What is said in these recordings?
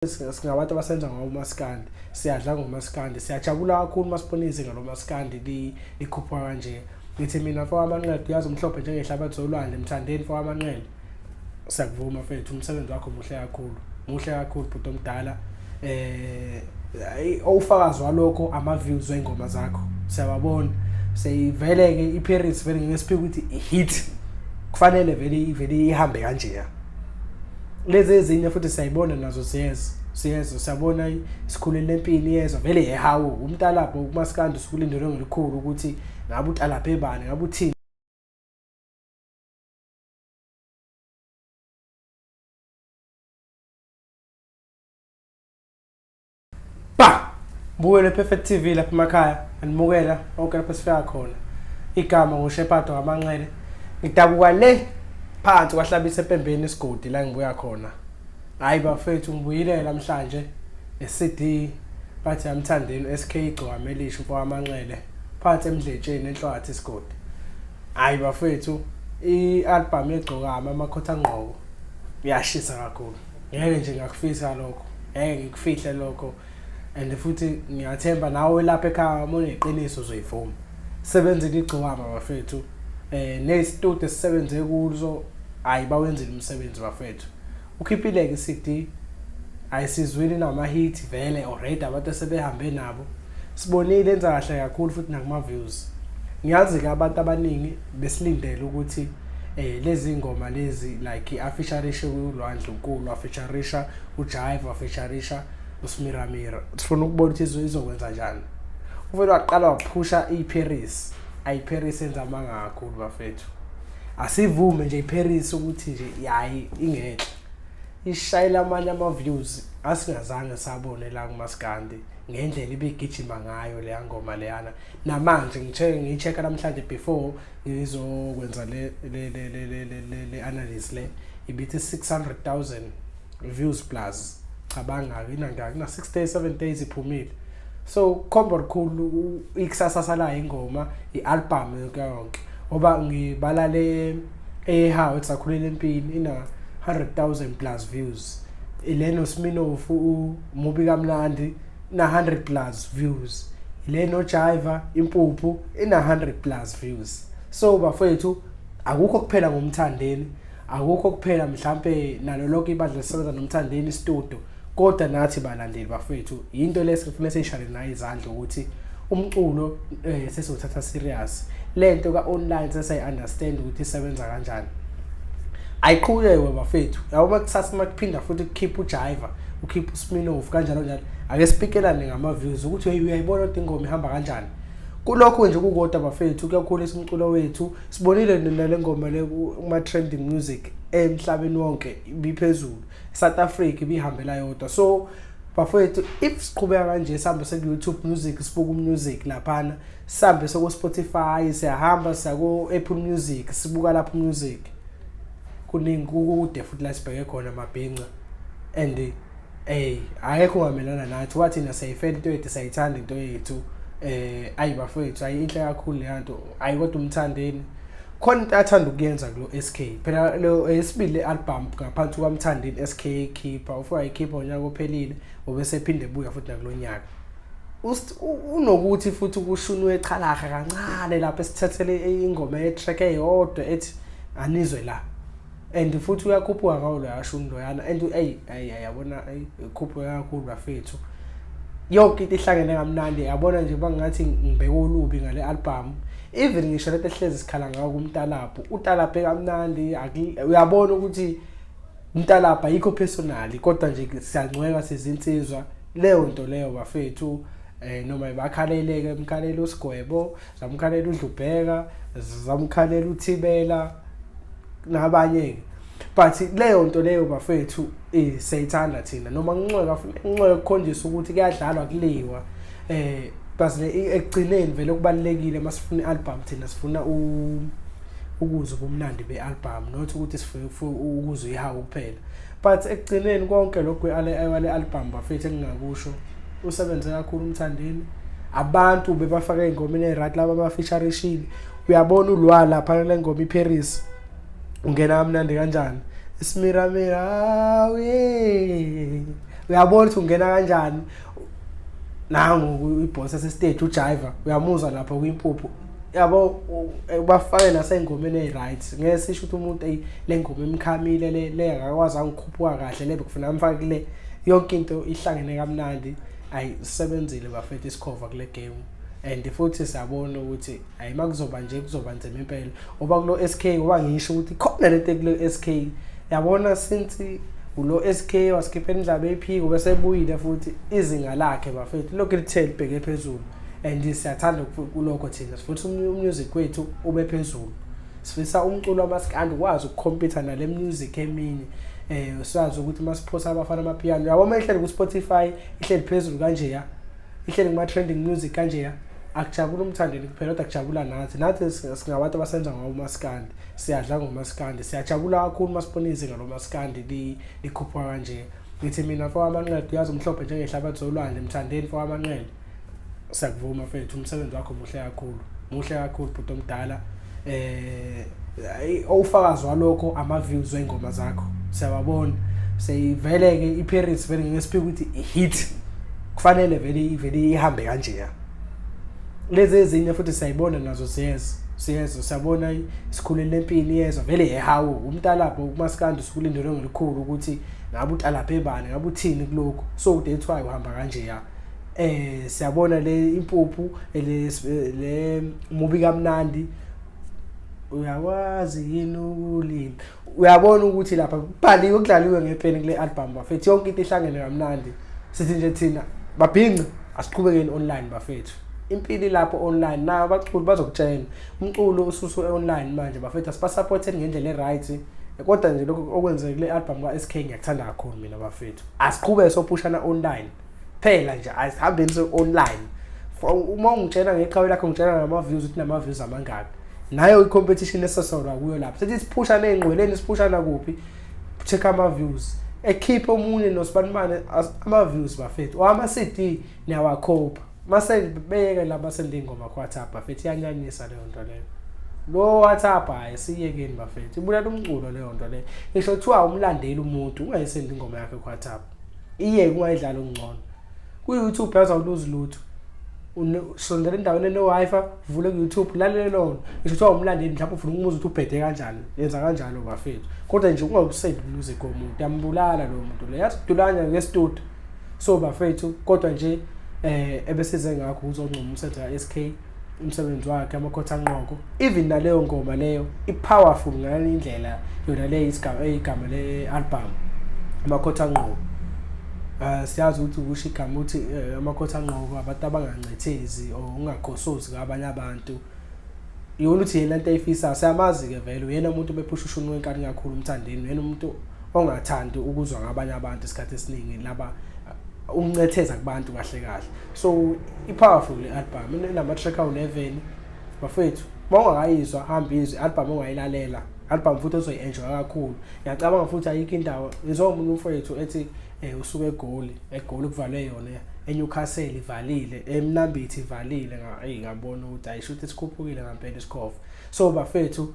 singabantu abasenza ngawo umaskandi siyadla ngomaskandi siyajabula kakhulu uma sibona izinga lomaskandi likhuphuka kanje ngithi mina mfo wamanqele uyazi umhlophe njengehlabathi zolwandle mthandeni mfo wamanqele siyakuvuma mfethu umsebenzi wakho muhle kakhulu muhle kakhulu bhuti omdala eh owufakazi walokho ama-views wey'ngoma zakho siyababona seyivele-ke i-paris vele ngeke siphike ukuthi i-hit kufanele vele ivele ihambe kanjeya lezi ezinye futhi siyayibona nazo ziyeza siyezwa siyabona isikhuleni lempini iyezwa vele yehawu umtalabho umasikandi usukulindelwe ngelikhulu ukuthi ngabe utalabhe bani ngabe uthini ba buyele perfect tv lapha emakhaya andimukela onke lapho sifika khona igama ngushepato ngamanxele ngidabuka le phansi kwahlabisa empembeni isigodi la ngibuya khona hayi bafethu ngibuyile namhlanje ne-cd bathi yamthandeni sk igcwame elisho kwamanxele phansi emdletsheni enhlwathi isigodi hayi bafethu i-albhamu yegcokama amakhotha ngqoko yashisa kakhulu ngeke nje ngakufisa lokho ngeke ngikufihle lokho and futhi ngiyathemba nawe lapha ekhaya uma uneqiniso uzoyivuma sebenzile igcokama bafethu eh nesitude esisebenze kuzo hayi bawenzile umsebenzi bafethu ukhiphileke iCD ayisizwini namahit vele already abantu sebehambe nabo Sibonile enza kahle kakhulu futhi nakuma views. Ngiyazi ke abantu abaningi besilindele ukuthi eh lezi ngoma lezi like afeaturisha kulwandle unkulu afeaturisha uJaiva afeaturisha uSmiramira. Sifuna ukubona ukuthi izwe izokwenza kanjani. Uvele waqala waphusha iParis. AyiParis enza amanga kakhulu bafethu. Asivume nje iParis ukuthi nje yayi ingenhle. Ishayela amanye ama views asingazange sabone la kumaskandi. ngendlela ibigijima ngayo leya ngoma leyana namanje ngithe ngicheck-a namhlanje before ngizokwenza le le le le le le le le analysis le ibithi 600000 views plus cabanga inanga kuna 6 days 7 days iphumile so khombo likhulu ikusasa salayo ingoma ialbum yonke yonke ngoba ngibala le ehawu esakhulele empini ina 100000 plus views ileno sminofu mubi kamnandi na 100 plus views le no jiva impuphu ina 100 plus views so bafethu akukho kuphela ngomthandeni akukho kuphela mhlambe nalo lonke ibandla lisebenza nomthandeni studio kodwa nathi balandeli bafethu into lesifuna sishale nayo izandla ukuthi umculo eh sesizothatha serious lento ka online sesiyi understand ukuthi isebenza kanjani ayiqhuleke bafethu yabo makusasa makuphinda futhi kukhipha ujiva ukhipha usminof kanjalo njalo ake sipikelane ngama-views ukuthi hey uyayibona kodwa ingoma ihamba kanjani kulokho nje kukodwa bafethu kuyakhulisa umculo wethu sibonile nale ngoma le kuma-trending music emhlabeni wonke ibiphezulu south africa ibihambela yodwa so bafowethu if siqhubeka kanje sihambe seku-youtube music sibuka umusic laphana sihambe seko-spotify siyahamba siyako-apple music sibuka lapho umusic kuningi kukude futhi la sibheke khona mabhinca and ey ayekho wamelana nathi wathi na sayifela into yethu sayithanda into yethu eh ayi bafowethu ayinhle kakhulu le nto ayi kodwa umthandeni khona into athanda ukuyenza kulo SK phela lo esibili eh, album ngaphansi kwamthandeni SK keeper ufika ikhipha unyaka ophelile obese phinde buya futhi nakulonyaka unokuthi futhi kushunwe echalaha kancane lapho esithathele ingoma ye track eyodwa ethi anizwe la and futhi uyakhuphuka ngawo loya shuni loyana and eyi eyi yabona eyi khuphuke kakhulu bafethu yonke into ihlangene kamnandi yabona nje bangathi ngibheke olubi ngale album even ngisho lento ehlezi sikhala ngawo kumtalabhu utalabhe kamnandi uyabona ukuthi umtalabha yikho personally kodwa nje siyancweka sizinsizwa leyo nto leyo bafethu eh noma ibakhaleleke emkhalelo usigwebo zamkhalela udlubheka zamkhalela uthibela nabanye-ke but leyo nto leyo bafethu eh, siyayithanda thina noma kunxeka kunxeka kukhonjisa ukuthi kuyadlalwa kuliwa eh basile ekugcineni vele okubalekile masifuna ialbum thina sifuna u ukuzwa ubumnandi bealbum not ukuthi sifuna ukuzwa ihawu kuphela but ekugcineni konke lokho ale album bafethu engingakusho usebenze kakhulu umthandeni abantu bebafaka ingoma ine right laba bafeature ishini uyabona ulwa lapha kule ngoma iParis ungena kamnandi kanjani isimiramira uyabona ukuthi ungena kanjani nangu ibhosa sestage ujiver uyamuzwa lapho kwimpuphu yabo ubafake nasengomeni eyi-right ngeke sisho ukuthi umuntu eyi le ngoma emkhamile le le akakwazi angikhuphuka kahle le bekufuna amfake le yonke into ihlangene kamnandi ayi sisebenzile bafethu isikhova kule game and futhi siyabona ukuthi hayi makuzoba nje kuzoba nzima impela oba kulo SK oba ngisho ukuthi khona lento kulo SK yabona since ulo SK waskipha indlaba ephiko bese ebuyile futhi izinga lakhe bafethu lokho lithe libheke phezulu and siyathanda kulokho thina sifuna umusic wethu ube phezulu sifisa umculo wamaskandi ukwazi ukukhompyutha nale music emini eh siyazi ukuthi masiphosa abafana amapiano yabo uma ihleli ku Spotify ihleli phezulu kanje ya ihleli kuma-trending music kanjeya akujabula umthandeni kuphela kodwa kujabula nathi nathi singabantu abasenza ngawo umasikandi siyadla ngomasikandi siyajabula kakhulu uma sibona izinga lomasikandi likhuphuka kanje ngithi mina fo amanqele uyazi umhlophe njengehlabathi zolwandle mthandeni fo amanqele siyakuvuma fethu umsebenzi wakho muhle kakhulu muhle kakhulu bhuti omdala eh ufakazi walokho ama views weingoma zakho siyababona seyivele ke iPirates vele ngeke siphike ukuthi hit kufanele vele ivele ihambe kanje ya lezi ezinye futhi siyayibona nazo siyeza siyeza siyabona isikhuleni lempini iyeza vele yehawu umtalapho umaskandi usukulindele ngelikhulu ukuthi ngabe utalaphe bani ngabe uthini kuloko so that's why uhamba kanje ya eh siyabona le impuphu le le mubi kamnandi uyakwazi yini ukulima uyabona ukuthi lapha kubhaliwe ukudlaliwe ngepeni kule album bafethu yonke into ihlangene kamnandi sithi nje thina babhinqe asiqhubekeni online bafethu impili lapho online nayo abaculi bazokutshela umculo ususu online manje bafethu asibasupporteni ngendlela e-right kodwa nje lokho okwenzekile i-album ka-SK ngiyakuthanda kakhulu mina bafethu asiqhube sophushana online phela nje asihambeni se online uma ungitshela ngeqhawe lakho ngitshela ngama views ukuthi nama views amangaki nayo i competition esesona kuyo lapho sethi siphusha nezingqweleni siphusha la kuphi check ama views ekhiphe omunye nosibanimane ama views bafethu wama CD niyawakhopha mase beyeke la basende ingoma kwa WhatsApp bafethu yanyanyisa leyo nto leyo lo WhatsApp hayi siyekeni bafethu ibulala umculo leyo nto leyo ngisho kuthiwa umlandeli umuntu ungayisendi ingoma yakhe kwa WhatsApp Iye kungayidlala okungcono. Ku-YouTube yazi awuluzi lutho. Sondela endaweni ene-Wi-Fi, vule ku-YouTube, lalele lona. Ngisho kuthiwa umlandeli mhlawumbe ufuna ukumuza ukuthi ubhede kanjani. Yenza kanjalo bafethu. Kodwa nje ungawusendi umuzi komuntu, uyambulala lowo muntu lo. Yazi dulanya ngestudio. So bafethu kodwa nje eh ebesize ngakho uzoncoma umsebenzi ka-SK. umsebenzi wakhe amakhotha anqoko even naleyo ngoma leyo ipowerful ngale indlela yona le isigaba igama le album amakhotha anqoko Uh, siyazi ukuthi ukusho igama ukuthi eh, amakhotha anqoko abantu abangancethezi or ungagosozi kabanye abantu yona ukuthi yena into ayifisayo siyamazi-ke vele uyena umuntu bephusha ushuni wenkani kakhulu umthandeni uyena umuntu ongathandi ukuzwa ngabanye abantu isikhathi esiningi laba ukuncetheza kubantu kahle kahle so i-powerful le album inama-track awu-11 bafethu uma ungakayizwa hamba izwe album ongayilalela album futhi ozoyi-enjoya kakhulu ngiyacabanga futhi ayikho indawo ngizomunye umfowethu ethi um usuke egoli egoli kuvalwe yona eNewcastle ivalile eMnambithi ivalile ngabona ukuthi ayisho ukuthi sikhuphukile ngampela isikhova so bafethu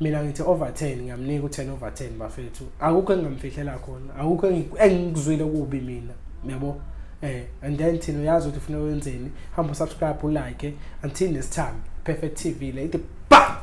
mina ngithi over 10 ngiyamnika u10 over 10 bafethu akukho engamfihlela khona akukho engikuzwile kubi mina uyabo eh and then thina uyazi ukuthi ufuna wenzeni hamba subscribe ulike until next time perfect tv le ithi ba